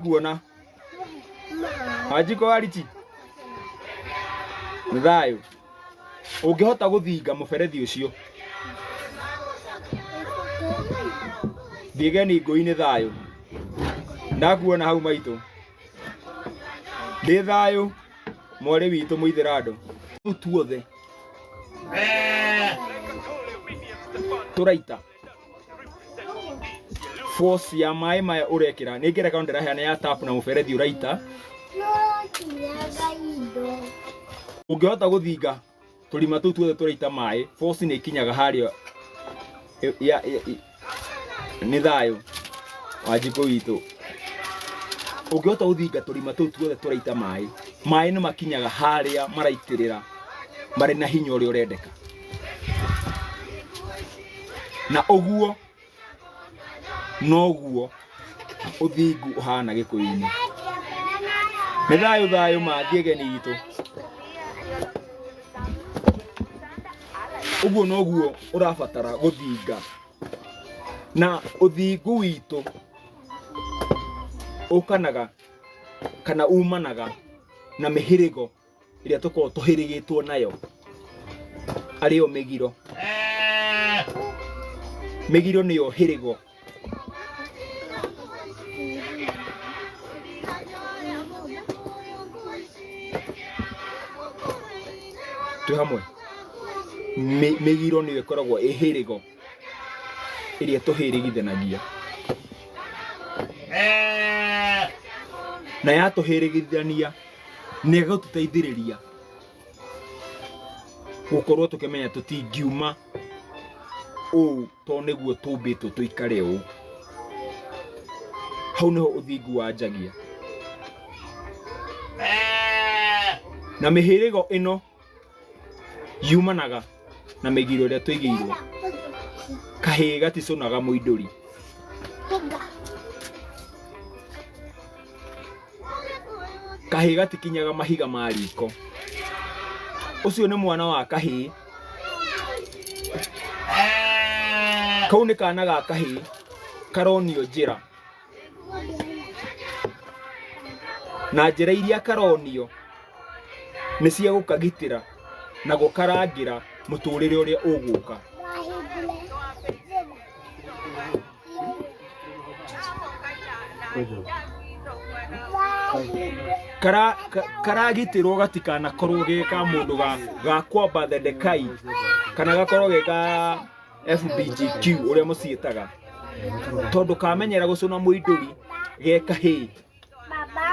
nguona wanjiko wariti nĩ thayũ ũngĩhota gũthinga mũberethi ũcio thiĩgeni ngũi-inĩ thayũ ndakuona hau maitũ ndĩ thayũ mwarĩ witũ mũithĩrandũ tuothe tũraita force ya maĩ maya ũrekĩra nĩ ngerekano ndĩraheana ya tap na mũberethi ũraita ũngĩhota gũthinga tũrima tũu tuothe tũraita maĩ force nĩ ikinyaga harĩa ĩ- ya- ĩ- ĩ- nĩ thayũ wa njikũ witũ ũngĩhota gũthinga tũrima tũu tuothe tũraita maĩ maĩ nĩ makinyaga harĩa maraitĩrĩra marĩ na hinya ũrĩa ũrendeka na ũguo noguo ũthingu ũhana gĩkũyũ-inĩ nĩ thayũ thayũ mathiĩ ageni witũ ũguo noguo ũrabatara gũthinga na ũthingu witũ ũkanaga kana umanaga na mĩhĩrĩgo ĩrĩa tũkoragwo tũhĩrĩgĩtwo nayo arĩyo mĩgiro. Mĩgiro nĩyo hĩrĩgo. Twĩ hamwe? Mĩ- Mĩgiro nĩyo ĩkoragwo ĩ hĩrĩgo. ĩrĩa tũhĩrĩgithanagia na yatũhĩrĩgithania nĩ ĩgatũteithĩrĩria gũkorwo tũkĩmenya tũtingiuma ũũ to nĩguo tũmbĩtwo tũikare ũũ hau nĩho ũthingu wanjagia na mĩhĩrĩgo ĩno yumanaga na mĩgiro ĩrĩa tũigĩirwo kahĩĩ gaticũnaga mũindũri kahĩĩ gatikinyaga mahiga ma riko ũcio nĩ mwana wa kahĩĩ kau nĩ kana ga kahĩĩ karonio njĩra na njĩra iria karonio nĩ cia gũkagitĩra na gũkarangĩra mũtũrĩre ũrĩa ũgũka Kara- ka- karagitĩrwo gatikanakorwo ge ka mũndũ ga- ga kwamba thedekai kana gakorwo ge ga FBGQ ũrĩa mũciĩtaga tondũ kamenyera gũcũna mũindũri ge kahĩĩ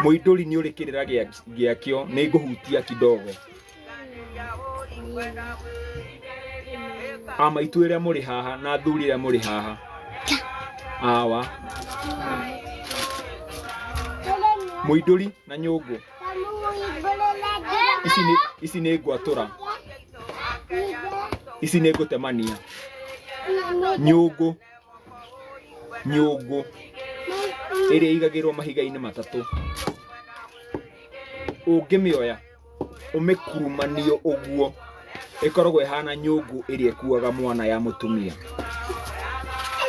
mũindũri nĩ ũrĩ kĩrĩra gĩa- gĩakĩo nĩ ngũhutia kidogo amaitũ ĩrĩa mũrĩ haha na athuri ĩrĩa mũrĩ haha awa mũindũri na nyũngũ ici nĩ ici nĩ ngwatura ici nĩ ngũtemania nyũngũ nyũngũ ĩrĩa igagĩrwo mahiga-inĩ matatũ ũngĩmĩoya ũmĩkurumanie ũguo ĩkoragwo ĩhana nyũngũ ĩrĩa ĩkuaga mwana ya mũtumia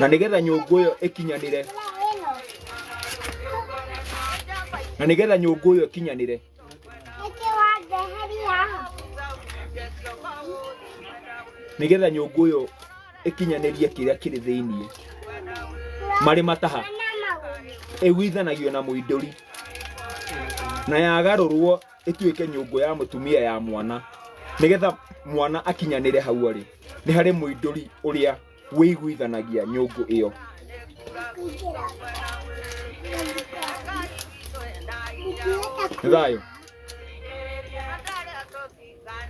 na nĩgetha nyũngũ ĩyo ĩkinyanĩre na nĩgetha nyũngũ ĩyo ĩkinyanĩre nĩgetha nyũngũ ĩyo ĩkinyanĩrie kĩrĩa kĩrĩ thĩinĩ marĩ mataha ĩguithanagio na mũindũri na yagarũrwo ĩtuĩke nyũngũ ya mũtumia ya mwana nĩgetha mwana akinyanĩre hau arĩ nĩ harĩ mũindũri ũrĩa wĩiguithanagia nyũngũ ĩyo nĩ thayũ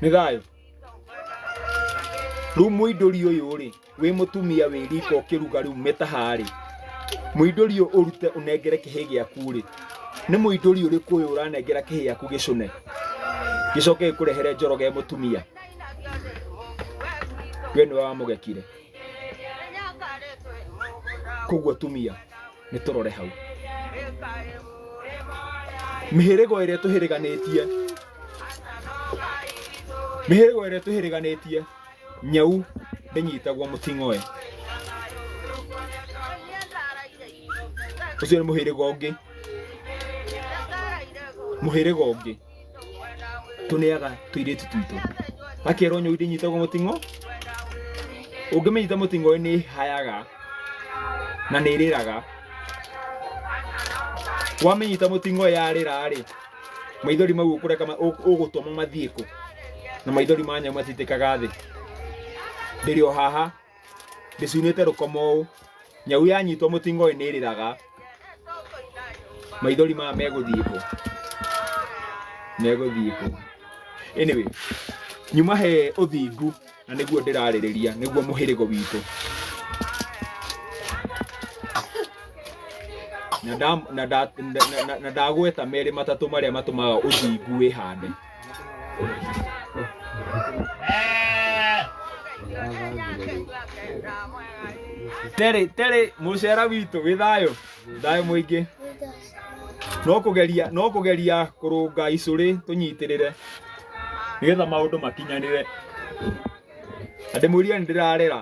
nĩ thayũ rĩu mũindũri ũyũ rĩ wĩ mũtumia wĩ riko ũkĩruga rĩu mĩtaha rĩ mũindũri ũyũ ũrute ũnengere kĩhĩ gĩaku rĩ nĩ mũindũri ũrĩkũ ũyũ ũranengera kĩhĩ gĩaku gĩcũne gĩcoke gĩkũrehere njoro ge mũtumia we nĩwe wamũgekire koguo tumia nĩ tũrore hau mĩhĩrĩgo ĩrĩa tũhĩrĩganĩtie mĩhĩrĩgo ĩrĩa tũhĩrĩganĩtie nyau ndĩnyitagwo mũting'oe ũcio nĩ mũhĩrĩga ũngĩ mũhĩrĩga ũngĩ tũneaga tũirĩtu twitũ gakerwo nyau ndĩnyitagwo mũting'o ũngĩmĩnyita mũting'o nĩ hayaga na nĩ ĩrĩraga wamĩnyita mũting'o yarĩra rĩ maithori mau ũkũreka ma- ũ- ũgũtũma mathiĩ kũ na maithori ma nyau matitĩkaga thĩ ndĩrĩ o haha ndĩcunĩte rũkoma ũũ nyau yanyitwo mũtingoĩ nĩ ĩrĩraga maithori maya megũthiĩ kũ megũthiĩ kũ anyway nyuma he ũthingu na nĩguo ndĩrarĩrĩria nĩguo mũhĩrĩgo witũ na nda- na nda- na- na- na ndagweta merĩ matatũ marĩa matũmaga ũthingu wĩhande terĩ terĩ mũcera witũ wĩ thayũ thayũ mũingĩ no kũgeria no kũgeria kũrũnga icũrĩ tũnyitĩrĩre nĩgetha maũndũ makinyanĩre na ndĩmwĩrie nĩ ndĩrarera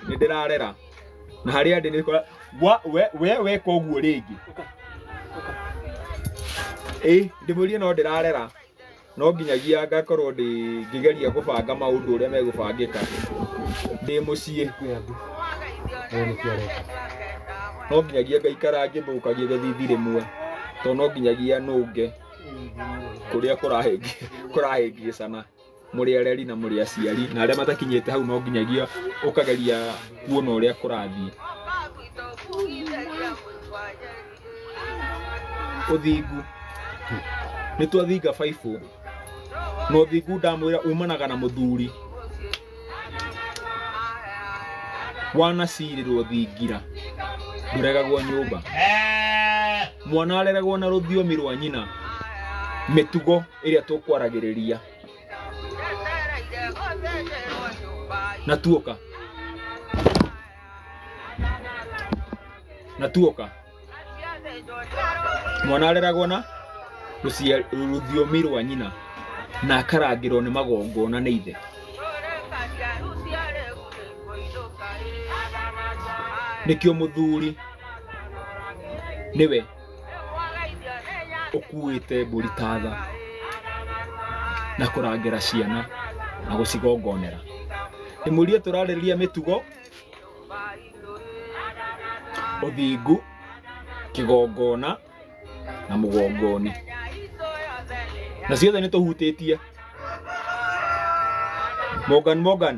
nĩ ndĩrarera na harĩa ndĩ nĩ kora Wa- we- we weka ũguo rĩngĩ ĩ ndĩmwĩrie no ndĩrarera no nginyagia ngakorwo ndĩ ngĩgeria gũbanga maũndũ ũrĩa megũbangĩka ndĩ mũciĩ no nginyagia ngaikara ngĩthũkagia gĩthithi rĩmwe tondũ no nginyagia nũnge kũrĩa kũrahĩngĩ- kũrahĩngĩcana mũrĩ areri na mũrĩ aciari na arĩa matakinyĩte hau no nginyagia ũkageria kuona ũrĩa kũrathiĩ ũthingu nĩ twathinga baibũ na ũthingu ndamwĩra umanaga na mũthuri wanacirĩrwo thingira ndũregagwo nyũmba mwana areragwo na rũthiomi rwa nyina mĩtugo ĩrĩa tũkwaragĩrĩria na tuoka na tuoka mwana areragwo na rũcia- rũthiomi rwa nyina na akarangĩrwo nĩ magongona nĩ ithe nĩkĩo mũthuri nĩwe ũkuĩte mbũri ta tha na kũrangĩra ciana na gũcigongonera ndĩmũrie tũrarĩrĩria mĩtugo ũthingu kĩgongona na mũgongoni na ciothe nĩ tũhutĩtie Morgan Morgan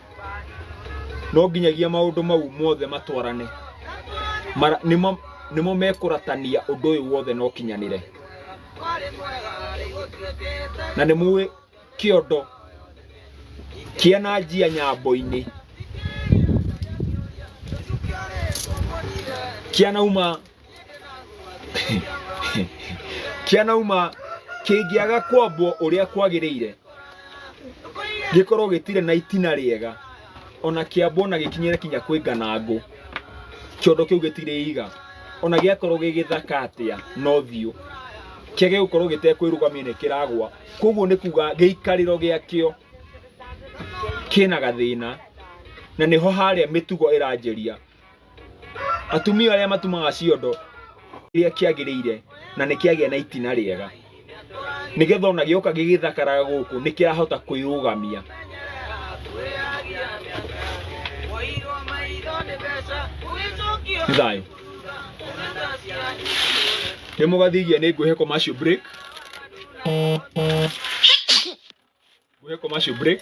no nginyagia maũndũ mau mothe matwarane Mara- nĩmo nĩmo mekũratania ũndũ ũyũ wothe na ũkinyanĩre na nĩ mũĩ kĩondo kĩa na njia nyambo-inĩ kĩanauma kĩanauma kĩngĩaga kwambwo ũrĩa kwagĩrĩire gĩkorwo gĩtirĩ na itina rĩega ona kĩambwo na gĩkinyĩre kinya kwĩ nganangũ kĩondo kĩu gĩtirĩ iga ona gĩakorwo gĩ gĩthaka atĩa no thiũ kĩa gĩgũkorwo gĩtekwĩrũgamia nĩ kĩragwa koguo nĩ kuga gĩikarĩro gĩakĩo kĩna gathĩna na nĩho harĩa mĩtugo ĩranjĩria Atumia arĩa matumaga ciondo kĩrĩa kĩagĩrĩire na nĩ kĩagĩa na itina rĩega nĩgetha ona gĩoka gĩgĩthakaraga gũkũ nĩ kĩrahota kwĩrũgamia. Nĩ thayũ. Nĩ mũgathigia nĩ ngwĩhe commercial break. Gwe commercial break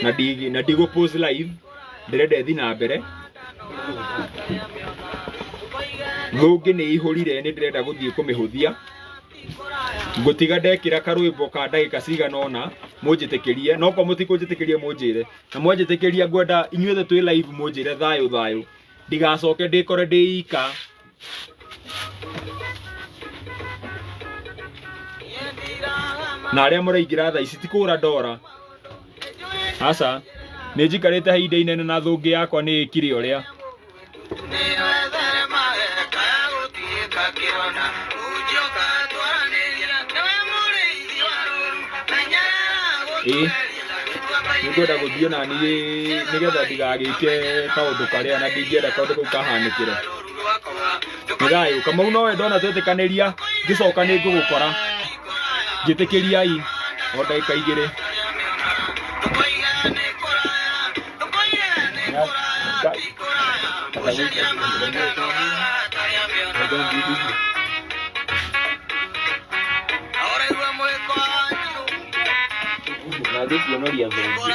na ndi na ndigo pause live ndĩrenda ĩthi na mbere thũngĩ nĩ ihũrire nĩ ndĩrenda gũthiĩ kũmĩhũthia ngũtiga ndekĩra karwĩmbo ka ndagĩka cigana ũna mũnjĩtĩkĩrie no kwa mũtikũnjĩtĩkĩrie mũnjĩre na mwanjĩtĩkĩria ngwenda inyuothe twĩ live mũnjĩre thayũ thayũ ndigacoke ndĩkore ndĩ ika na arĩa mũraingĩra thaa ici ti kũgũra ndora aca nĩ njikarĩte he ihinda inene na thũngĩ yakwa nĩ ĩkire ũrĩa ĩĩ nĩ ngwenda gũthiĩ na niĩ nĩgetha ndigagĩke kaũndũ karĩa na ndingĩenda kaũndũ kau kahanĩkĩre nĩ thayũ kamau nowe ndona twetĩkanĩria ngĩcoka nĩ ngũgũkora njĩtĩkĩriai o ndagĩka igĩrĩ na ngĩkuonoria thũmbĩ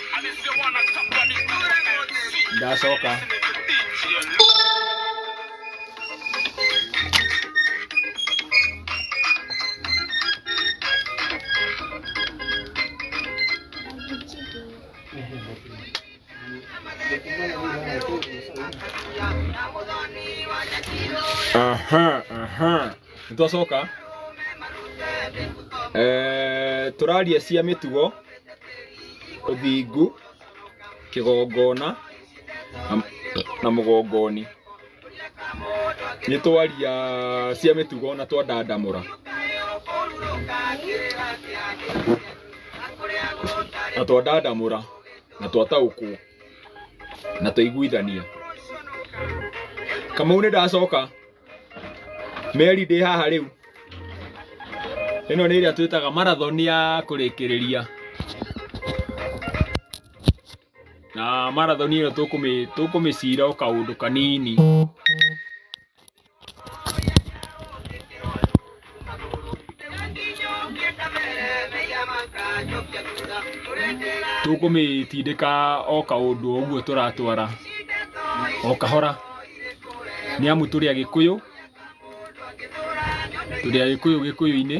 ndacoka aha aha nitwacoka eh turaria cia mitugo ũthingu, kĩgongona na mũgongoni. Nĩ twaria cia mĩtugo na twandandamũra. Na twandandamũra na twataũkwo na twaiguithania. Kamau nĩ ndacoka? Meri ndĩ haha rĩu. Ĩno nĩ ĩrĩa twĩtaga marathon ya kũrĩkĩrĩria. Na marathon ĩno tũkũmĩ tũkũmĩcira o kaũndũ kanini. Tũkũmĩtindĩka o kaũndũ o ũguo tũratwara o kahora nĩ amu tũrĩ Agĩkũyũ, tũrĩ Agĩkũyũ Gĩkũyũ-inĩ.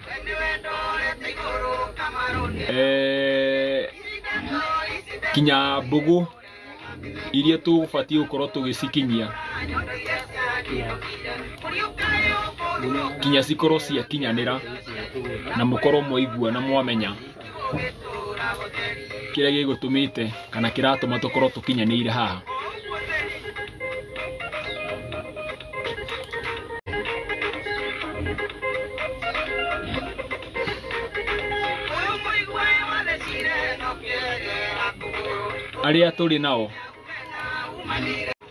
Eh, kinya mbugu iria tũbatiĩ gũkorwo tũgĩcikinyia kinya cikorwo ciakinyanĩra na mũkorwo mwaigua na mwamenya kĩrĩa gĩgũtũmĩte kana kĩratũma tũkorwo tũkinyanĩire haha arĩa tũrĩ nao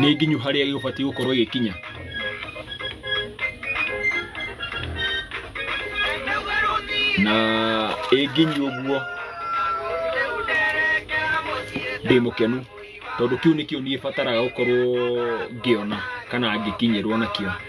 nĩ nginyu harĩa gĩgũbatiĩ gũkorwo gĩkinya na ĩ nginyu ũguo ndĩ mũkenu tondũ kĩu nĩkĩo niĩ bataraga gũkorwo ngĩona kana ngĩkinyĩrwo nakĩo.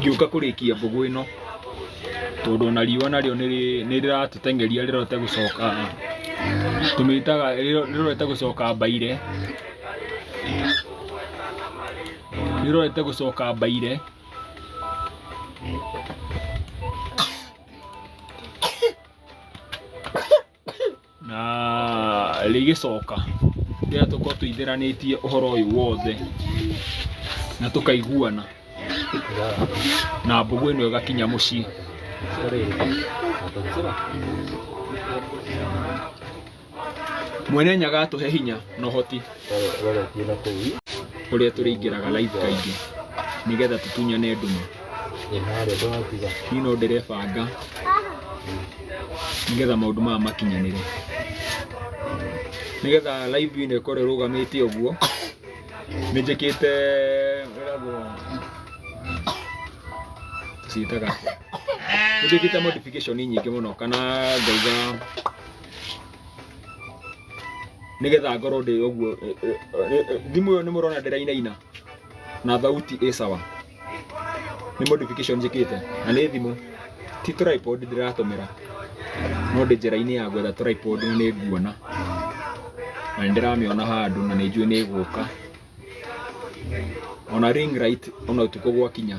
ngĩũka kũrĩkia mbũgũ ĩno tondũ ona riũa narĩo nĩ rĩratũteng'eria rĩrote gũcoka tũmĩtaga rĩrote gũcoka mbaire rĩrote gũcoka mbaire na rĩgĩcoka rĩrĩa tũkorwo tũithĩranĩtie ũhoro ũyũ wothe na tũkaiguana na mbũgũ ĩno ĩgakinya mũciĩ mwene nyaga atũhe hinya na ũhoti kũrĩa tũrĩingĩraga live kaingĩ nĩgetha tũtunyane ndume niĩ no ndĩrebanga nĩgetha maũndũ maya makinyanĩre nĩgetha live ĩno ĩkorwo ĩrũgamĩte ũguo nĩ njĩkĩte ĩragwo ciĩtaga nĩ njĩkĩte modification nyingĩ mũno kana ngaiga nĩgetha ngorwo ndĩ ũguo eh, eh, eh, eh, thimũ ĩyo nĩ mũrona ndĩrainaina na thauti ĩ sawa nĩ modification njĩkĩte na nĩ thimũ ti tripod ndĩratũmĩra no ndĩ njĩra-inĩ ya gwetha tripod na nĩ nguona na nĩ ndĩramĩona handũ na nĩ njũĩ nĩ ĩgũka ona ring light ona ũtukũ gwakinya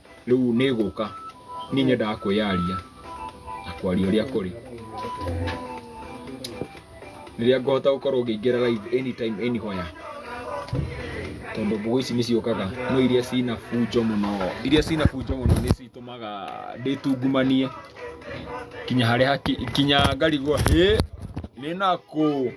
rĩu nĩ gũka niĩ nyendaga kwĩyaria na kwaria ũrĩa kũrĩ rĩrĩa ngũhota gũkorwo ngĩingĩra live anytime anywhere tondũ mbũgũ ici nĩ ciũkaga no iria cina bunjo mũno iria cina bunjo mũno nĩ citũmaga ndĩtungumanie kinya harĩa haki- kinya ngarigwo hĩ nĩ nakũ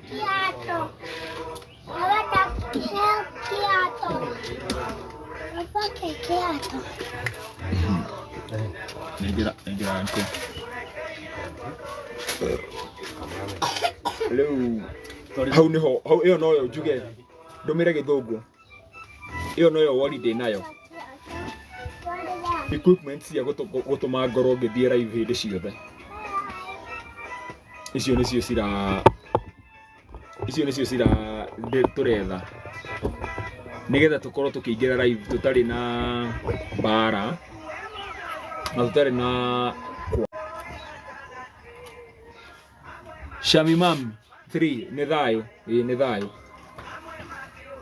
Nengera, nengera nko. Rĩu hau nĩho hau ĩyo noyo njuge ndũmĩre gĩthũngũ ĩyo noyo wori ndĩ nayo equipment cia gũtũ- gũ- gũtũma ngorwo ngĩthiĩ raivu hĩndĩ ciothe icio nĩcio cira icio nĩcio cira ndĩ- tũretha nĩgetha tũkorwo tũkĩingĩra raivu tũtarĩ na mbara na tũtarĩ na kwa shamimam 3 nĩ thayũ ĩĩ nĩ thayũ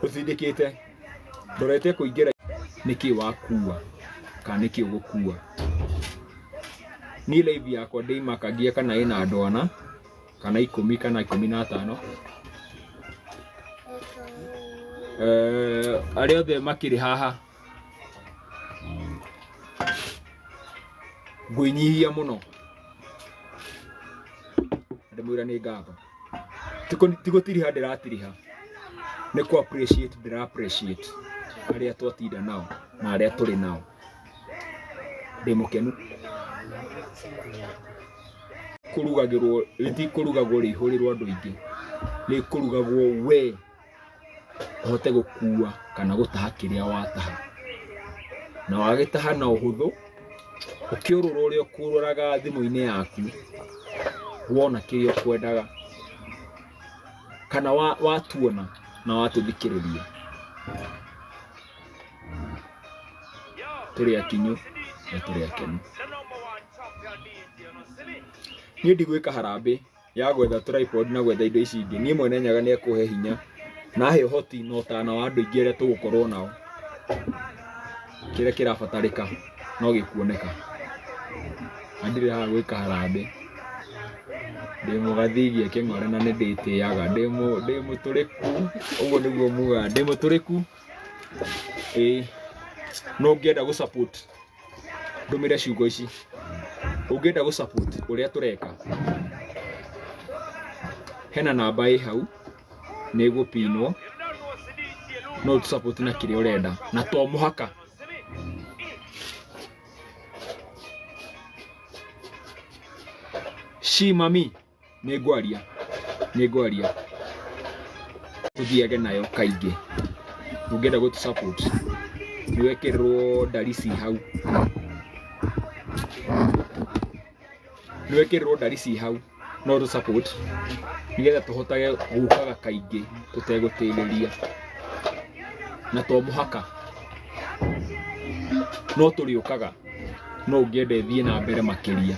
ũtindĩkĩte ndorete kũingĩra nĩkĩ wakua kana nĩkĩ ũgũkua niĩ laivu yakwa ndĩimakagia kana ĩna andwana kana ikũmi kana ikũmi na atano Eh, arĩa othe makĩrĩ haha ngwĩnyihia mũno ndĩmwĩra nĩ ngatho Ti kũ- ti gũtiriha ndĩratiriha nĩ kũ appreciate ndĩra appreciate arĩa twatinda nao na arĩa tũrĩ nao ndĩ mũkenu kũrugagĩrwo rĩtikũrugagwo rĩihũrĩrwo andũ aingĩ rĩkũrugagwo we ũhote gũkua kana gũtaha kĩrĩa wataha na wagĩtaha na ũhũthũ ũkĩũrũra ũrĩa ũkũrũraga thimũ-inĩ yaku wona kĩrĩa ũkwendaga kana wa- watuona na watũthikĩrĩria tũrĩ akinyu na tũrĩ akenu niĩ ndigwĩka harambĩ ya gwetha tripod na gwetha indo ici ingĩ niĩ mwene nyaga nĩ ekũhe hinya nahe ũhoti na ũtana wa andũ aingĩ arĩa tũgũkorwo nao kĩrĩa kĩrabatarĩka no gĩkuoneka na ndirĩ haha gwĩka harambĩ ndĩ mũgathigia kĩng'ore na nĩ ndĩtĩaga ndĩ mũ- ndĩ mũtũrĩku ũguo nĩguo mugaga ndĩ mũtũrĩku ĩĩ no ũngĩenda gũ support ndũmĩre ciugo ici ũngĩenda gũ support ũrĩa tũreka hena namba ĩ hau nĩ ĩgũpinwo no ũtũ support na kĩrĩa ũrenda na to mũhaka Shi mami nĩ ngwaria nĩ ngwaria tũthiage nayo kaingĩ ũngĩenda gũtũ support nĩ wekĩrĩrwo ndarisi hau nĩ wekĩrĩrwo ndarisi hau no tũ support nĩgetha tũhotage gũkaga kaingĩ tũtegũtĩrĩria na to mũhaka no tũrĩũkaga no ũngĩenda ĩthiĩ na mbere makĩria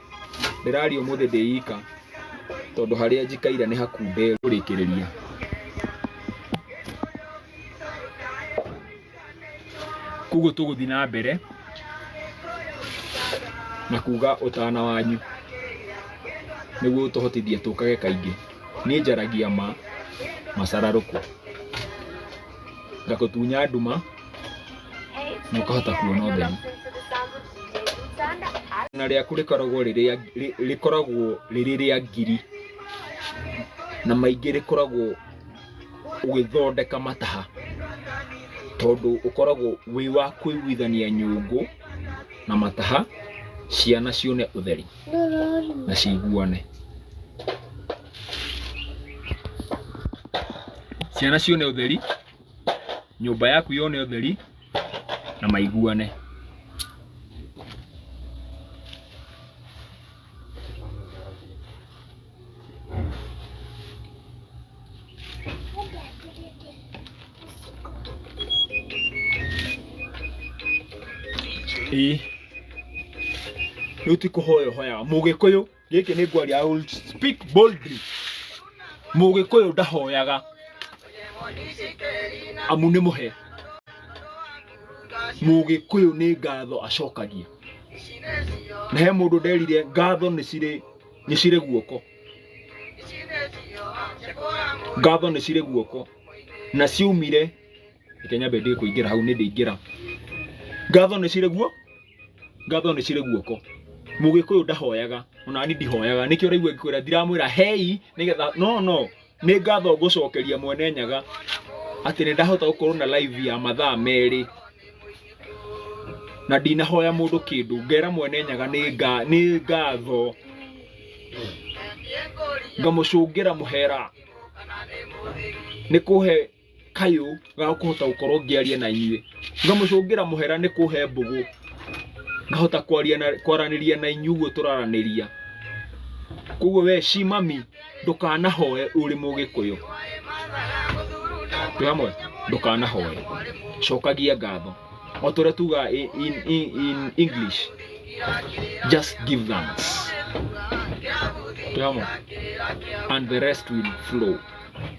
Ndĩraria ũmũthĩ ndĩ ika tondũ harĩa njikaire nĩ hakunde kũrĩkĩrĩria. Koguo tũgũthiĩ na mbere na kuga ũtana wanyu nĩguo ũtũhotithie tũkage kaingĩ. Niĩ njaragia ma, macararũkũ. ngakũtunya nduma na ũkahota kuona ũtheri na rĩaku rĩkoragwo rĩrĩa rĩ- rĩkoragwo rĩrĩ rĩa ngiri na maingĩ rĩkoragwo ũgĩthondeka mataha tondũ ũkoragwo wĩ wa kũiguithania nyũngũ na mataha ciana cione ũtheri na ciguane ciana cione ũtheri nyũmba yaku yone ũtheri na maiguane ĩĩ rĩu ti kũhoya ũhoyaga mũgĩkũyũ gĩkĩ nĩ ngwaria I will speak boldly mũgĩkũyũ ndahoyaga amu nĩ mũhe mũgĩkũyũ nĩ ngatho acokagia na he mũndũ nderire ngatho nĩ cirĩ nĩ cirĩ guoko ngatho nĩ cirĩ guoko na ciaumire reke nyambe ndĩ kũingĩra hau nĩ ndĩingĩra ngatho nĩ cirĩ guo ngatho nĩ cirĩ guoko mũgĩkũyũ ndahoyaga onani ndihoyaga nĩkĩo ũraigua ngĩkwĩra ndiramwĩra hei nĩgetha no no nĩ ngatho ngũcokeria mwene nyaga atĩ nĩ ndahota gũkorwo na live ya mathaa merĩ na ndinahoya mũndũ kĩndũ ngera mwene nyaga nĩ nga- nĩ ngatho ngamũcũngĩra mũhera nĩ kũhe kayũ ga kũhota gũkorwo ngĩaria na inyuĩ ngamũcũngĩra mũhera nĩ kũhe mbũgũ ngahota kwaria na kwaranĩria na inyuĩ ũguo tũraranĩria koguo we ci mami ndũkanahoe ũrĩ mũgĩkũyũ twĩ hamwe ndũkanahoe cokagia ngatho o tũrĩa tugaga in, in, in, in english just give thanks twĩ hamwe and the rest will flow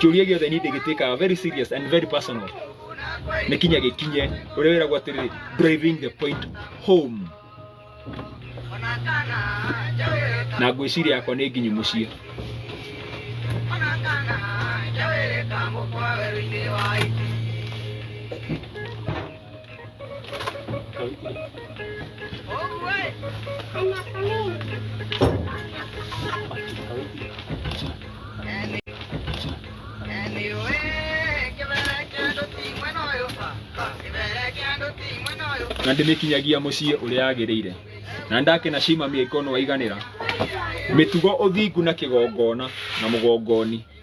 kĩũria gĩothe niĩ ndĩgĩtĩkaga very serious and very personal nĩ kinya gĩkinye ũrĩa wĩragwo atĩrĩ driving the point home na ngwĩciria yakwa nĩ nginyu mũciĩ na ndĩmĩkinyagia mũciĩ ũrĩa yagĩrĩire na ndake na cima mĩaikonu waiganĩra mĩtugo ũthingu na kĩgongona na mũgongoni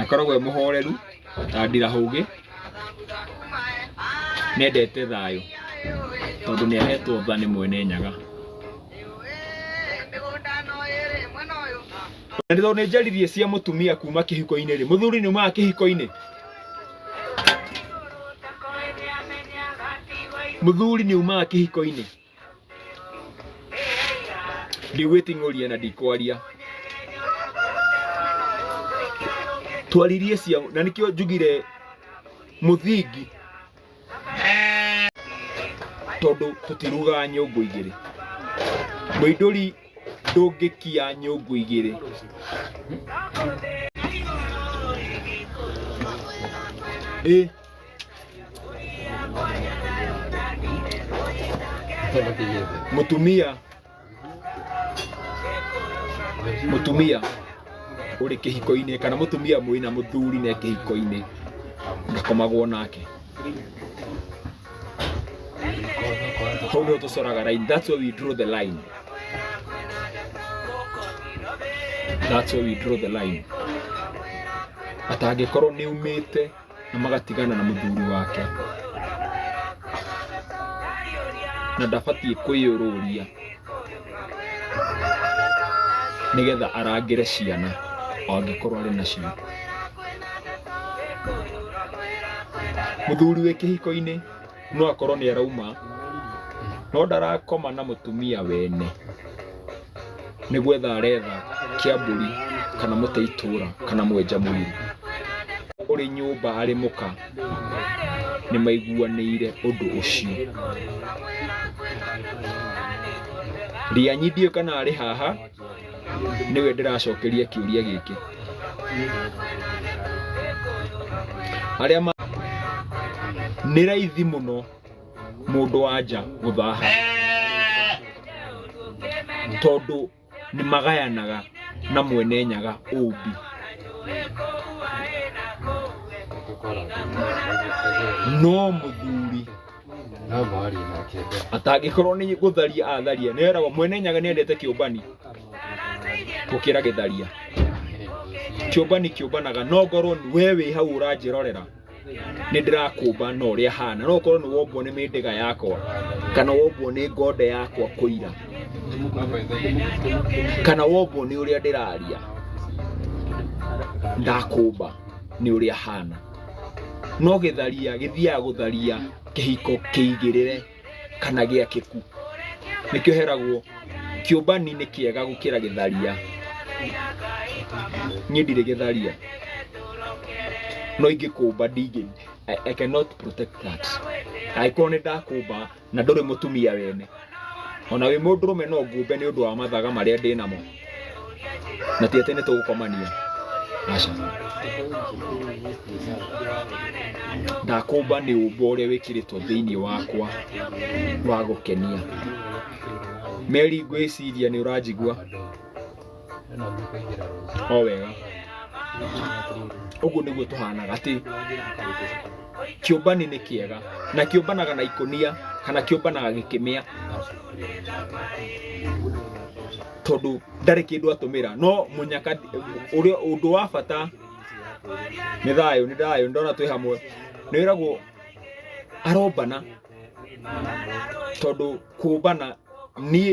Akoragwo e mũhoreru ta ndirahũgĩ, nĩ endete thayũ tondũ nĩ ahetwo tha nĩ mwene Nyaga. Na tondũ nĩ njaririe cia mũtumia kuma kĩhiko-inĩ rĩ, mũthuri nĩ umaga kĩhiko-inĩ? Mũthuri nĩ umaga kĩhiko-inĩ? ndigwĩting'ũria na ndikwaria twaririe cia na nĩkĩo njugire mũthingi tondũ tũtirugaga nyũngũ igĩrĩ mũindũri ndũngĩkia nyũngũ igĩrĩ ĩ mutumia mutumia uri kihiko-ini kana mutumia mwina muthuri ne kihiko-ini ndakomagwo nake hau nä tucoraga line that's where we draw the line that's where we draw the line atangä korwo nä umä te na magatigana na mũthuri wake na ndabatiĩ kwĩyũrũria nĩgetha arangĩre ciana o angĩkorwo arĩ nacio mũthuri wĩ kĩhiko-inĩ No akorwo nĩ arauma no ndarakoma na mũtumia wene nĩ gwetha aretha kĩambũri kana mũtĩ itũra kana mwenja mũiri ũrĩ nyũmba arĩ mũka nĩ maiguanĩire ũndũ ũcio. Rĩanyi ndiũĩ kana arĩ haha. nĩwe ndĩracokeria kĩũria gĩkĩ arĩa ma nĩ raithi mũno mũndũ wa nja gũthaha tondũ nĩ magayanaga na mwene nyaga ũmbi no mũthuri No mwarie nake mbere. atangĩkorwo nĩ gũtharia atharia nĩ eragwo mwene nyaga nĩ endete kĩũmbani gũkĩra gĩtharia kĩũmbani kĩũmbanaga no ngorwo nĩ- we wĩ hau ũranjĩrorera nĩ ndĩrakũmba na ũrĩa hana no ũkorwo nĩ wombwo nĩ mĩndĩga yakwa kana wombwo nĩ ngonde yakwa kũira kana wombwo nĩ ũrĩa ndĩraria ndakũmba nĩ ũrĩa hana no gĩtharia gĩthiaga gũtharia kĩhiko kĩigĩrĩre kana gĩakĩku nĩkĩo heragwo kĩũmbani nĩ kĩega gũkĩra gĩtharia niĩ ndirĩ gĩtharia no ingĩkũmba ndingĩ I, I cannot protect that angĩkorwo nĩ ndakũmba na ndũrĩ mũtumia wene ona wĩ mũndũrũme no ngumbe nĩ ũndũ wa mathaga marĩa ndĩ namo na ti atĩ nĩ tũgũkomania aca ndakũmba nĩ ũmbo ũrĩa wĩkĩrĩtwo thĩinĩ wakwa wa gũkenia meri ngwĩciria nĩ ũranjigua o wega ũguo nĩguo tũhanaga atĩ kĩũmbani nĩ kĩega na kĩũmbanaga na ikũnia kana kĩũmbanaga gĩkĩmĩa tondũ ndarĩ kĩndũ atũmĩra no mũnyaka ũrĩa ũndũ wa bata nĩ thayũ nĩ thayũ ndona twĩ hamwe nĩ wĩragwo arombana tondũ kũmbana niĩ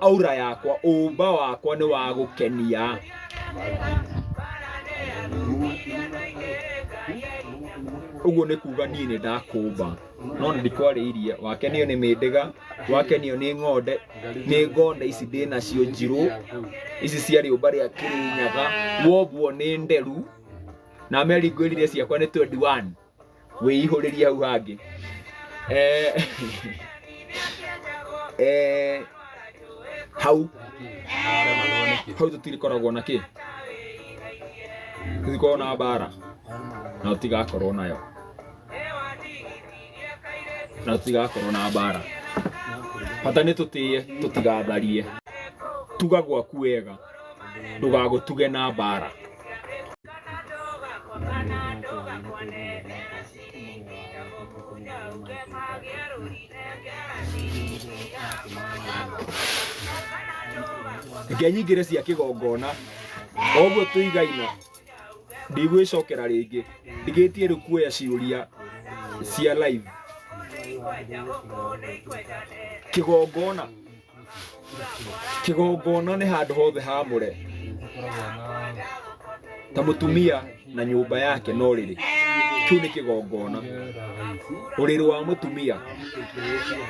aura yakwa ũmba wakwa nĩ wa gũkenia ũguo nĩ kuga niĩ nĩ ndakũmba no nĩ ndikwarĩirie wakenio nĩ mĩndĩga wakenio nĩ ng'onde nĩ ng'onde ici ndĩ nacio njirũ ici cia rĩũmba rĩa kĩrĩnyaga wombwo nĩ nderu na meri ngwĩrire ciakwa nĩ 21 wĩihũrĩrie hau hangĩ eh, eh, hau hau tũtirikoragwo na kĩ tũtikoragwo na mbara na tũtigakorwo nayo na tũtigakorwo na mbara bata nĩ tũtĩye tũtigatharie tuga gwaku wega ndũgagũtuge na mbara reke nyingĩre cia kĩgongona oguo tũigaina ndigwĩcokera rĩngĩ ndigĩtie rĩu kuoya ciũria cia live kĩgongona Kĩgongona nĩ handũ hothe haamũre, ta mũtumia na nyũmba yake no rĩrĩ, kĩu nĩ kĩgongona. Ũrĩrĩ wa mũtumia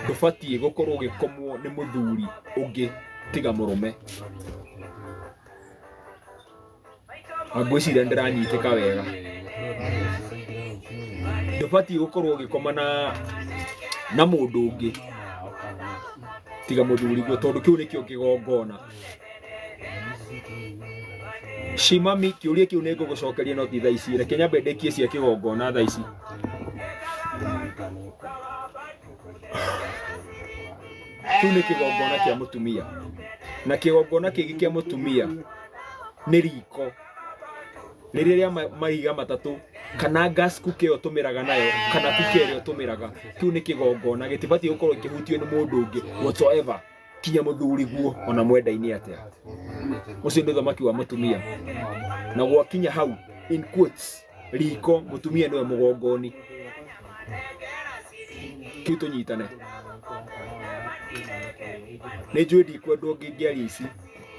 ndũbatiĩ gũkorwo ũgĩkomwo nĩ mũthuri ũngĩ tiga mũrũme. ngwĩciria ndĩranyitĩka wega ndũbatiĩ gũkorwo ũgĩkoma na na mũndũ ũngĩ tiga mũthuri guo tondũ kĩu nĩkĩo kĩgongona shimami kĩũria kĩu nĩ ngũgũcokeria no ti thaa ici reke nyambe ndĩkie cia kĩgongona thaa ici kĩu nĩ kĩgongona kĩa mũtumia na kĩgongona kĩngĩ kĩa mũtumia nĩ riko nĩ rĩrĩa ma- mahiga matatũ kana gas cooker ĩyo tũmĩraga nayo kana cooker ĩrĩa tũmĩraga kĩu nĩ kĩgongona gĩtibatiĩ gũkorwo kĩhutio nĩ mũndũ ũngĩ whatsoever kinya mũthuri guo ona mwendainĩ atĩa ũcio nĩ ũthamaki wa mũtumia na gwakinya hau in quotes riko mũtumia nĩwe mũgongoni kĩu tũnyitane nĩ njũĩ ndikwendwo ngĩngĩaria ici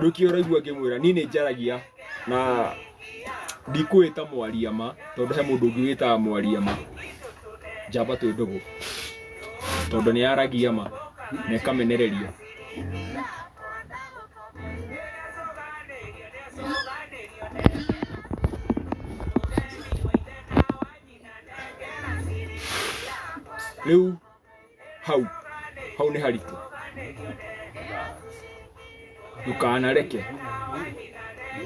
ruki ũraigua ngĩmwĩra niĩ nĩ njaragia na ndikwĩta mwaria ma tondũ he mũndũ ũngĩ wĩtaga mwaria ma njamba twĩ ndũgũ tondũ nĩ yaragia ma na ĩkamenereria rĩu hau hau nĩ haritũ ndũkanareke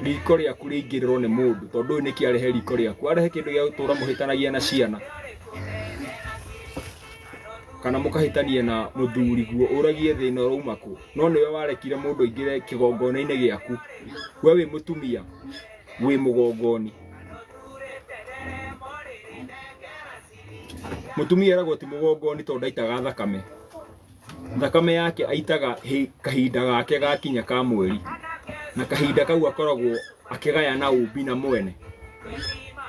riko rĩaku rĩingĩrĩrwo nĩ mũndũ tondũ ũyũ nĩkĩ arehe riko rĩaku arehe kĩndũ gĩa gũtũra mũhĩtanagia na ciana kana mũkahĩtania na mũthuri guo ũragie thĩna ũrauma kũ no nĩwe warekire mũndũ aingĩre kĩgongona-inĩ gĩaku we wĩ mũtumia wĩ mũgongoni mũtumia eragwo ti mũgongoni tondũ ndaitaga thakame thakame yake aitaga hĩ- kahinda gake gakinya ka mweri na kahinda kau akoragwo akĩgaya na ũmbi na mwene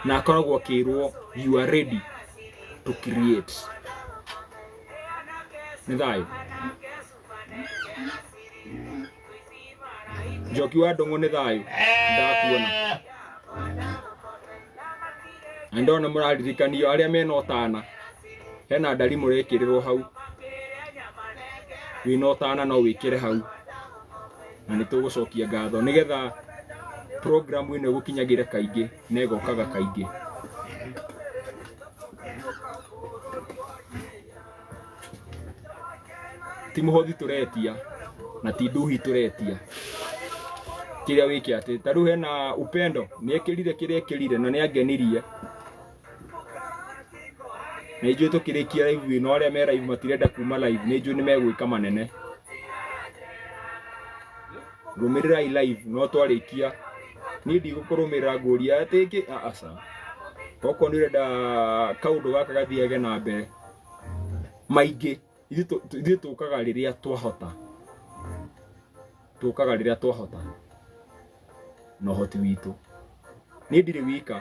na akoragwo akĩrwo you are ready to create nĩ thayũ njoki wa ndũng'ũ nĩ thayũ ndakuona na ndona mũraririkanio arĩa mena ũtana hena ndari mũrekĩrĩrwo hau wĩna ũtana no wĩkĩre hau na nĩ tũgũcokia ngatho nĩgetha programu ĩno ĩgũkinyagĩre kaingĩ na ĩgokaga kaingĩ ti muhothi turetia na ti nduhi turetia kiria wiki ati ta riu hena upendo ni ekirire kiria ekirire na ni angenirie na ijui tukirikia live na aria me live matirenda kuma live ni ijui ni megwika manene rumirirai live no twarikia ni ndigũkũrũmĩrĩra ngũria atĩ ĩngĩ aca okorwo nĩ ũrenda kaũndũ gaka gathiage na mbere maingĩ ithuĩ tũ- tũ- ithuĩ tũkaga rĩrĩa twahota tũkaga rĩrĩa twahota na ũhoti witũ niĩ ndirĩ wika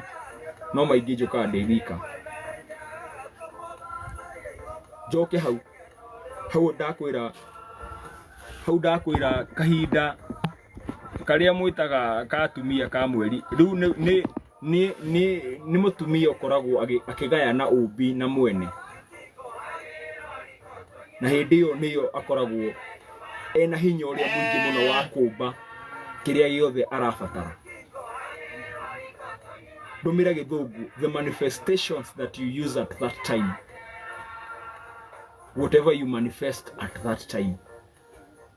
no maingĩ njũkaga ndĩ wika njoke hau hau ndakwĩra hau ndakwĩra kahinda karĩa mwĩtaga ka atumia ka mweri rĩu nĩ- nĩ nĩ nĩ nĩ mũtumia ũkoragwo agĩ- akĩgayana ũmbi na mwene na hĩndĩ ĩyo nĩyo akoragwo ena hinya ũrĩa mũingĩ mũno wa kũmba kĩrĩa gĩothe arabatara ndũmĩra gĩthũngũ the manifestations that you use at that time whatever you manifest at that time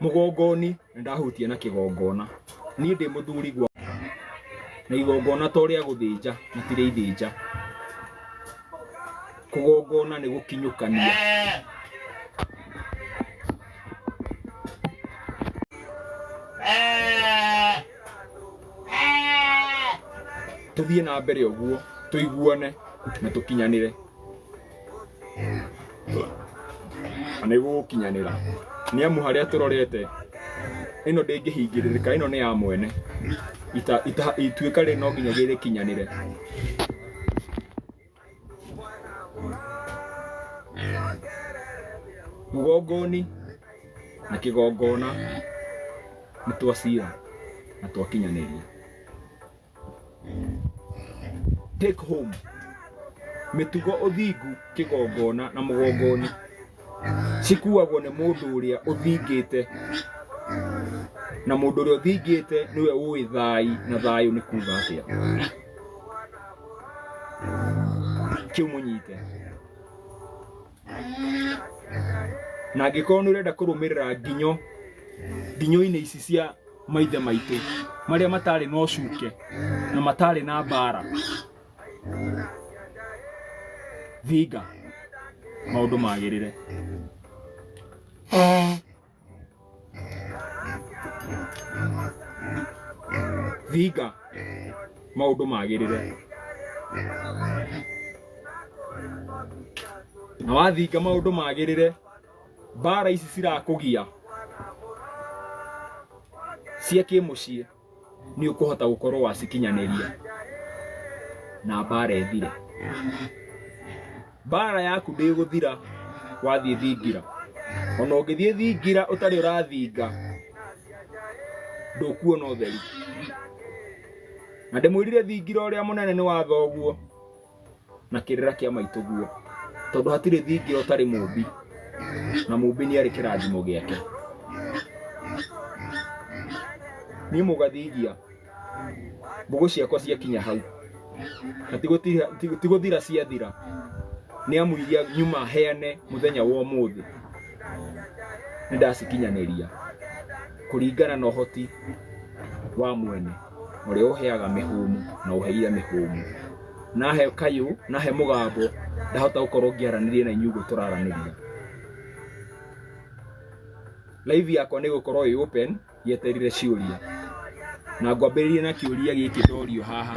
mũgongoni na ndahutia na kĩgongona niĩ ndĩ mũthuri gwa na igongona to rĩa gũthĩnja na ti rĩa ithĩnja kũgongona nĩ gũkinyũkania tũthiĩ na mbere ũguo tũiguane na tũkinyanĩre na nĩ gũgũkinyanĩra nĩ amu harĩa tũrorete ĩno ndĩngĩhingĩrĩrĩka ĩno nĩ ya mwene Ita- ita- ituĩka rĩ no nginya gĩrĩkinyanĩre mũgongoni na kĩgongona nĩ twacira na twakinyanĩria Take home. Mĩtugo ũthingu kĩgongona na mũgongoni cikuagwo nĩ mũndũ ũrĩa ũthingĩte na mũndũ ũrĩa ũthingĩte nĩwe ũĩ thai na thayũ nĩ kuga atĩa kĩu mũnyite na angĩkorwo nĩ ũrenda kũrũmĩrĩra nginyo nginyo-inĩ ici cia maithe maitũ marĩa matarĩ na ũcuke na matarĩ na mbara thinga maũndũ magĩrĩre thinga maũndũ magĩrĩre na wathinga maũndũ magĩrĩre mbara ici cirakũgia cia kĩmũciĩ nĩ ũkũhota gũkorwo wacikinyanĩria na mbara ĩthire. Mbara yaku ndĩgũthira wathiĩ thingira, ona ũngĩthiĩ thingira ũtarĩ ũrathinga ndũkuona ũtheri. Na ndĩmwĩrire thingira ũrĩa mũnene nĩ wa thoguo. na kĩrĩra kĩa maitũguo tondũ hatirĩ thingira ũtarĩ mũmbi na mũmbi nĩ arĩ kĩrathimo gĩake niĩ mũgathingia mbũgũ ciakwa ciakinya hau na ti gũtira- ti- ti gũthira ciathira nĩ amu iria nyuma heane mũthenya wa ũmũthĩ nĩ ndacikinyanĩria kũringana na ũhoti wa mwene Ũrĩa ũheaga mĩhũmũ na ũheire mĩhũmũ. Nahe kayũ, nahe mũgambo, ndahota gũkorwo ngĩaranĩria na inyuĩ ũguo tũraranĩria. Live yakwa nĩ ĩgũkorwo ĩ open yeterire ciũria. Na ngwambĩrĩria na kĩũria gĩkĩ ndorio haha.